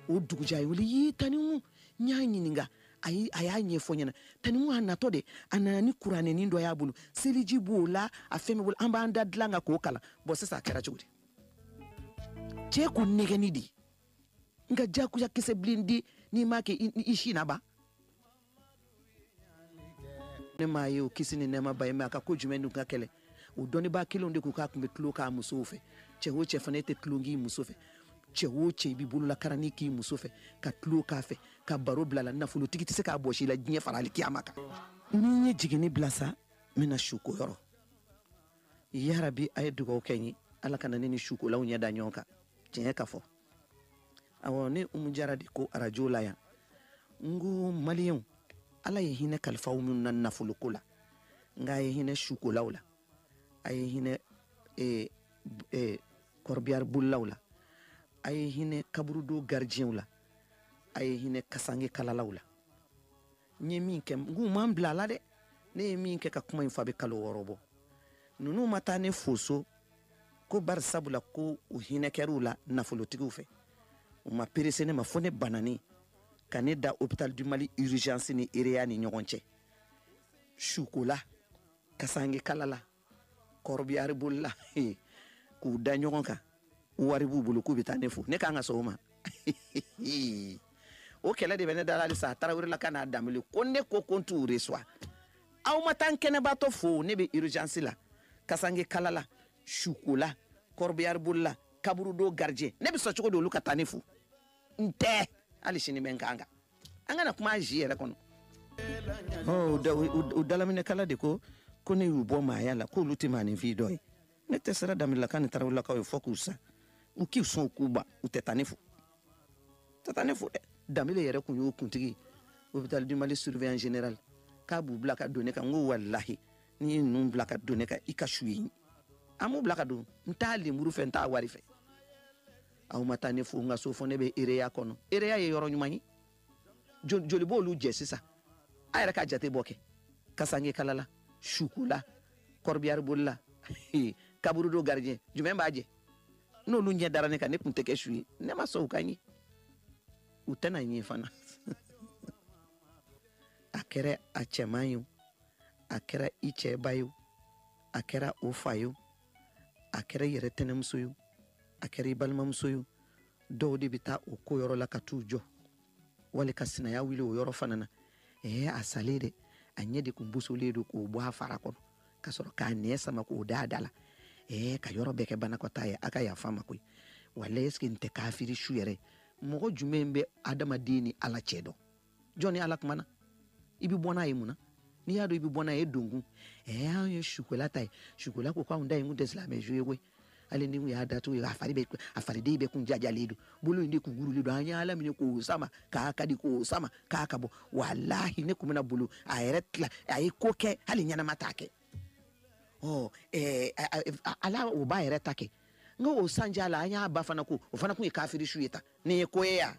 S1: o dugujɛ a ye n wele yii tanti umu n y'a ɲininka a y'a ɲɛfɔ n ɲɛna tanti umu a natɔ de a nana ni kuranɛnin dɔ y'a bolo seliji b'o la a fɛn bɛ bolo an b'an da dilan kan k'o kalan bɔn sisan a kɛra cogo di cɛ ko nɛgɛni de n ka jakuya kisɛ bilen di n'i m'a kɛ i si na ban ne m'a ye o kisi ni nɛɛma b'a ye mais a ka ko jumɛn dun ka gɛlɛn o dɔnnibaa kelenw de ko k'a tun bɛ tulon k'a musow fɛ cɛ o cɛ fana e tɛ tulon k'i muso fɛ cɛ o cɛ i b'i bololakaranni k'i muso fɛ ka tulon k'a fɛ ka baro bil'a la nafolotigi tɛ se k'a bɔs'i la diɲɛ fara alikiyama kan ni n ye jiginni bila sa n bɛna suko yɔrɔ yarabi a ye dugawu kɛ n ye ala kana ne ni sukolaw ɲɛ da ɲɔgɔn kan tiɲɛ ka fɔ awɔ ne umu jara de ko arajo la yan n ko maliyɛnw ala ye hinɛ kalifaw minnu na nafoloko la nka a ye hinɛ sukolaw la a ye hinɛ eh, eh, kɔrɔbiyari bolilaw la a ye hinɛ kaburudo garidiyɛnw la a ye hinɛ kasange kalalaw la n ye min kɛ n k'u ma n bila a la dɛ ne ye min kɛ ka kuma in fɔ a bɛ kalo wɔɔrɔ bɔ ninnu ma taa ne fo so ko bari sabula ko u hinɛ kɛr'u la nafolotigiw fɛ u ma perese ne ma fo ne banani ka ne da hôpital du mali urgence ni ereya ni ɲɔgɔn cɛ sukola kasange kalala kɔrɔbiyari bolila k'u da ɲɔgɔn kan wari b'u bolo k'u bɛ taa ne fo ne k'an ka sɔgɔma o kelen de bɛ ne da halisa a tarawelelaka ni danbele ko ne ko ko n t'u resuwa aw ma taa n kɛnɛbaatɔ fo ne bɛ urgence la kasange kala la sukola kɔrɔbiyari bolila kaburudo garijɛ ne bɛ sɔn cogo di olu ka taa ne fo n tɛ hali sini bɛ n kan kan an kana kuma bi yɛrɛ kɔnɔ u dalaminɛkala de ko ko ne y'u bɔ maaya la k'olu tɛ maaninfin dɔ ye ne tɛ siran danbelelaka ni tarawelelakaw ɲɛ fo k'u sa u k'i sɔn u k'u ban u tɛ taa ne fo tɛ taa ne fo dɛ danbele yɛrɛ kun y'o kuntigi hôpital du mali surveillant général k'a b'u bila ka don ne kan n ko walahi n'i ye ninnu bila ka don ne kan i ka su ye an b'u bila ka don n t'a lemuru fɛ n t'a wari fɛ aw ma taa ne fo n ka so fo ne bɛ ereya kɔnɔ ereya ye yɔrɔ ɲuman ye Jo- joli b'olu jɛ sisan a yɛrɛ ka jate bɔ kɛ kasange kalala sukola kɔrɔbiyari bolila kaburudo garijɛ jumɛn b'a jɛ n'olu ɲɛ dara ne kan ne kun tɛ kɛ su ye ne ma sɔn u ka ɲɛ u tɛna ɲɛ fana a kɛra a cɛman ye o a kɛra i cɛba ye o a kɛra o fa ye o a kɛra i yɛrɛ tɛnɛmuso ye o a kɛra i balimamuso ye o dɔw de bɛ taa o ko yɔrɔ la ka t'u jɔ wali ka sinaya wuli o yɔrɔ fana na ɛɛ a salen dɛ a ɲɛ de kun bosolen don k'o bɔ a fara kɔnɔ ka sɔrɔ k'a nɛn sama k'o da a da la ɛɛ ka yɔrɔ bɛɛ kɛ banakɔtaa ye a ka yafa n ma koyi wala est-ce que nin tɛ kafiri su yɛrɛ ye mɔgɔ jumɛn bɛ adamaden ni ala cɛ dɔn jɔn ni ala kumana i bi bɔ n'a ye mun na n'i y'a dɔn i bi bɔ n'a ye e donkun ɛɛ anw ye sukola ta ye sukola ko k'anw da ye kun tɛ silamɛ su ye koyi hali ni kun y'a datugu ye a fari bɛ a fariden bɛ kun jajalen don bolo in de kun gurulen don an ye ala minɛ k'o sama k'a ka di k'o sama k'a ka bɔ walahi ne kun bɛna bolo a yɛrɛ tila a ye ko kɛ hali ɲɛnama t'a kɛ ɔ ɛɛ ala o b'a yɛrɛ ta kɛ n ko o sanjala an y'a ba fana ko o fana kun ye kafiri su ye tan nin ye ko ye yan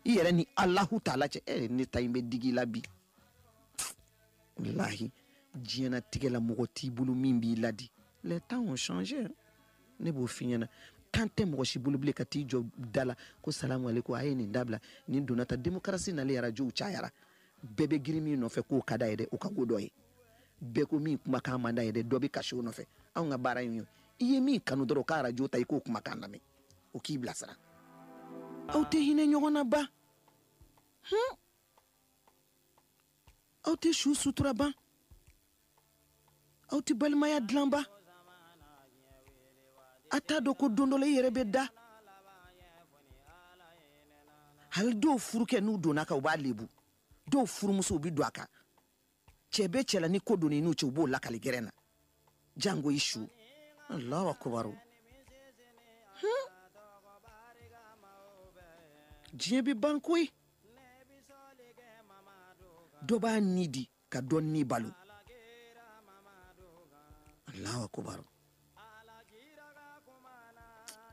S1: i yɛrɛ ni alahu taala cɛ e eh, ne ta in bɛ digi i la bi walahi diɲɛnatigɛ la mɔgɔ t'i bolo min b'i ladi les temps ont changé ne b'o f'i ɲɛna tan tɛ mɔgɔ si bolo bilen ka t'i jɔ da la ko salamu aleykum a ye nin dabila nin donna ta demokarasi nalen arajow cayara bɛɛ bɛ girin min nɔfɛ k'o ka d'a ye dɛ o ka ko dɔ ye bɛɛ ko min kumakan man d'a ye dɛ dɔ bɛ kasi o nɔfɛ anw ka baara in ye i ye min kanu dɔrɔn o ka arajo ta i k'o kumakan lamɛn o k'i bilasira aw tɛ hinɛ ɲɔgɔn na ban hun aw tɛ su sutura ban aw tɛ balimaya dilan ban a t'a dɔn ko don dɔ la i yɛrɛ bɛ da hali dɔw furukɛ n'u donna a kan u b'a lebu dɔw furumusow bɛ don a kan cɛ bɛ cɛla ni ko donn'i n'u cɛ u b'o lakali gɛrɛn na jango i su alahu akubaru hmm. diɲɛ bɛ ban koyi dɔ b'a ni di ka dɔ ni balo alahu akubaru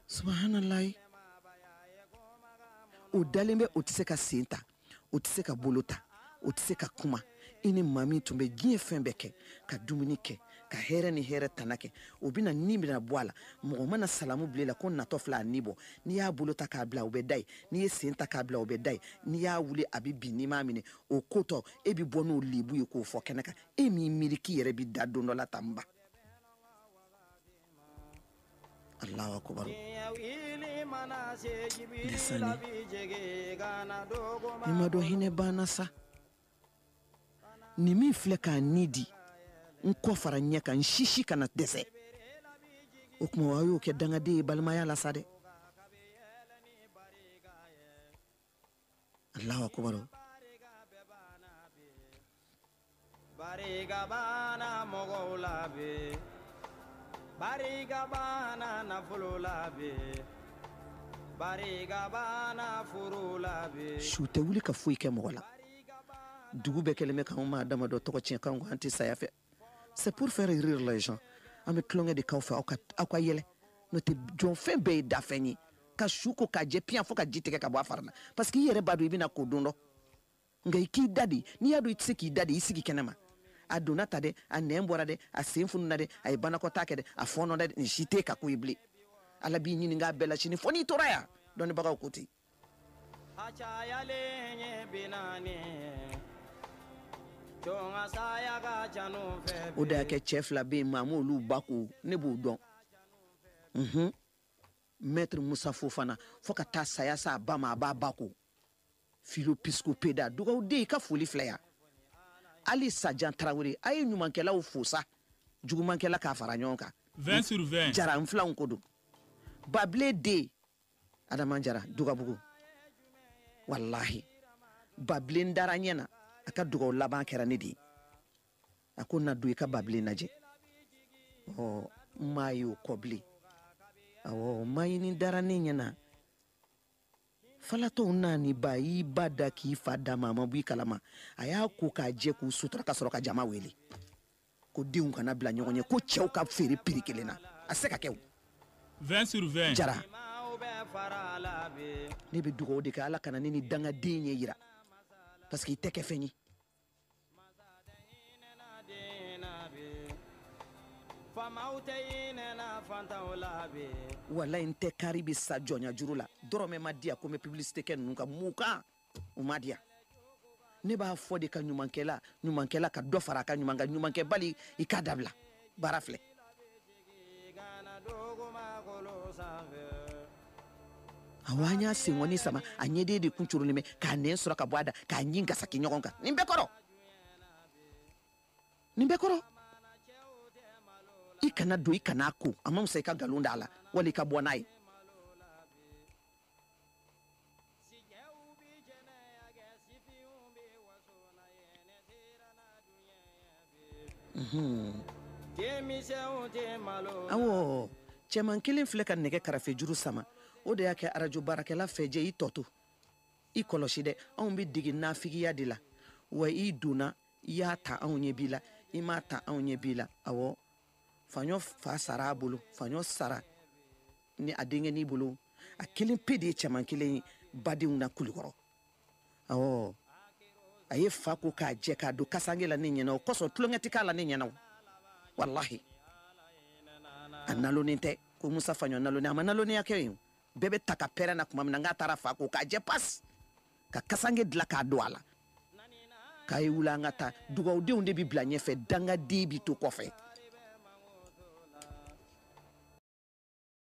S1: subahanalayi u dalen bɛ u tɛ se ka sen ta u tɛ se ka bolo ta u tɛ se ka kuma i ni maa min tun bɛ diɲɛ fɛn bɛɛ kɛ ka dumuni kɛ ka hɛrɛ ni hɛrɛ tana kɛ o bɛna ni mina bɔ a la mɔgɔ mana salamu bila la ko natɔ fila a ni bɔ n'i y'a bolo ta k'a bila o bɛ da yen n'i y'a sen ta k'a bila o bɛ da yen n'i y'a wuli a bɛ bin n'i m'a minɛ o kotɔ e bɛ bɔ n'o lebu ye k'o fɔ kɛnɛ kan e m'i miiri k'i yɛrɛ bɛ da don dɔ la tan ba Allahu akbar desani ni ma dɔn hinɛ banna sa nin min filɛ k'a ni di n kɔ fara ɲɛ kan n sisi kana dɛsɛ o tuma wa y'o kɛ dangaden ye balimaya la sa dɛ Allahu akbar barika banna mɔgɔw la bi barika banna nafolo la bi barika banna furu la bi su tɛ wuli ka foyi kɛ mɔgɔ la dugu bɛɛ kɛlen bɛ k'anw maa damadɔ tɔgɔ tiɲɛ k'anw ko an tɛ saya fɛ c'est pour faire rire les gens an bɛ tulonkɛ de k'aw fɛ aw ka aw ka yɛlɛ n'o tɛ jɔfɛn bɛɛ ye dafɛn ye ka su ko k'a jɛ piyan fo ka ji tigɛ ka bɔ a fari la parce que i yɛrɛ b'a dɔn i bɛna ko don dɔ nka i k'i da de n'i y'a dɔn i tɛ se k'i da de i sigi kɛnɛ ma a donna ta dɛ a nɛn bɔra dɛ a sen fununa dɛ a ye banakɔtaa kɛ dɛ a fɔɔnɔ dɛ nin si t'e ka ko ye bilen ala b'i ɲininka a bɛɛ la sini fo n'i tora yan dɔnnibagaw ko ten a cayalen ye binani jɔn ka saya ka ca n'u fɛ o de y'a kɛ cɛ fila bɛ yen maa m'olu ba ko ne b'o dɔn mhm. mɛtiri musa fofana fo ka taa saya se a ba ma a b'a ba ko filo pisiko peda dugawu den i ka foli filɛ yan ali sajan tarawele a ye ɲumankɛlaw fo sa jugumankɛla k'a fara ɲɔgɔn kan 20 sur 20 jara n filanw ko don babile den adama jara dugabugu walahi babilen dara ɲɛ na a ka dugaw laban kɛra ne de ye a ko na don i ka babilen lajɛ ɔ n m'a ye o kɔ bilen awɔ mayini dara ne ɲɛ na falatɔw n'a ni ba y'i ba da k'i fa da ma a ma bɔ i kalama a y'a ko k'a jɛ k'u sutura ka sɔrɔ ka jama wele ko denw kana bila ɲɔgɔn ɲɛ ko cɛw ka feere piri kelen na a se ka kɛ 20 sur 20 jara ne bɛ dugawu de kɛ ala kana ne ni dangaden ɲɛ yira parce que i tɛ kɛ fɛn ye walayi n tɛ kari bɛ sa jɔnya juru la dɔrɔmɛ ma di yan ko n bɛ publicité kɛ ninnu ka mun kan o ma di yan ne b'a fɔ de ko ɲumankɛla ɲumankɛla ka dɔ fara a ka ɲuman kan ɲumankɛbali i k'a dabila baara filɛ awa an y'a sengɔni sama a ɲɛden de kun corolen bɛ k'a nɛn sɔrɔ ka bɔ a da k'a ɲin gasaki ɲɔgɔn kan nin bɛɛ kɔrɔ nin bɛɛ kɔrɔ i kana don i kana ko a ma musa i ka nkalon d'a la wali i ka bɔ n'a ye Awɔ cɛman kelen filɛ ka nɛgɛ karafe juru sama o de y'a kɛ arajo baarakɛla fɛjɛ i tɔ to i kɔlɔsi dɛ anw bɛ dege nafigiya de la awa i donna i y'a ta anw ɲɛ b'i la i m'a ta anw ɲɛ b'i la awɔ faɲɔ fa sara a bolo faɲɔ sara ni a denkɛnin bolo a kelen pe de ye cɛman kelen ye badenw na kulikɔrɔ awɔ a ye fa ko k'a jɛ k'a don kasange la ne ɲɛna o kosɔn tulonkɛ tɛ k'a la ne ɲɛna o walahi a nalonnen tɛ ko musa faɲɔ nalonnen a ma nalonnenya kɛ yen bɛɛ bɛ taa ka pɛrɛn na tuma min na n k'a taara fa ko k'a jɛ pasi ka kasange dila k'a don a la k'a ye wuli an ka taa dugawudenw de bi bila ɲɛfɛ dangaden bi to kɔfɛ